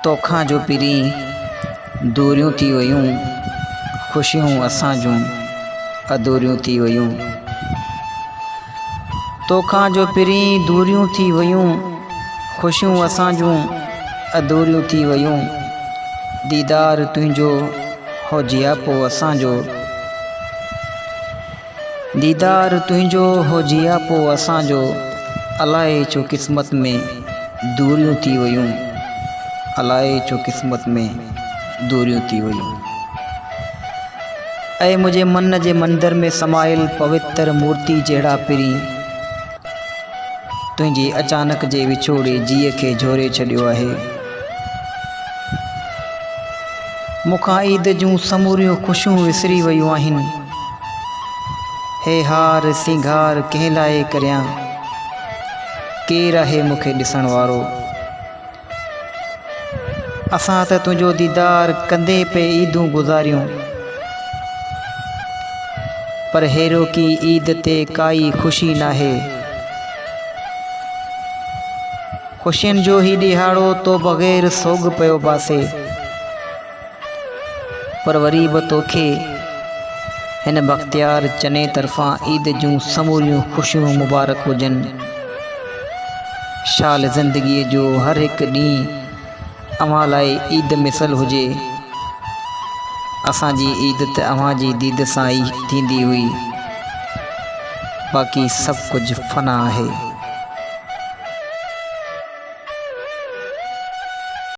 توکان جو پرين دوريون ٿي ويون، خوشيون اسان جون اڌوريون ٿي ويون. توکان جو پرين دوريون ٿي ويون، خوشيون اسان جون اڌوريون ٿي ويون. ديدار تنهنجو هو جياپو اسان جو. ديدار تنهنجو هو جياپو اسان جو الائي ڇو قسمت ۾ دوريون ٿي ويون الائي ڇو قسمت ۾ دوريون ٿي ويون اي منهنجي من جي مندر ۾ سمايل پوتر مورتي جهڙا پرين تنهنجي اچانڪ جي وڇوڙي جيء کي جهوري ڇڏيو آهي. مون کان عيد جون سموريون خوشيون وسري ويون آهن. هي هار سينگار ڪنهن لاء ڪريان؟ ڪير آهي مون کي ڏسڻ وارو؟ اسان ته تنهنجو ديدار ڪندي پئي عيدون گذاريون پر هيروڪي عيد تي ڪائي خوشي ناهي خوشين جو هي ڏيهاڙو تو بغير سوڳ پيو باسي. پر وري به توکي هن بختيار چني طرفان عيد جون سموريون خوشيون مبارڪ هجن. شال زندگيء جو هر هڪ ڏينهن اوهان لاء عيد مثل هجي. اسان جي عيد ته اوهان جي ديد سان ئي ٿيندي هئي. باقي سڀ ڪجهه فنا آهي.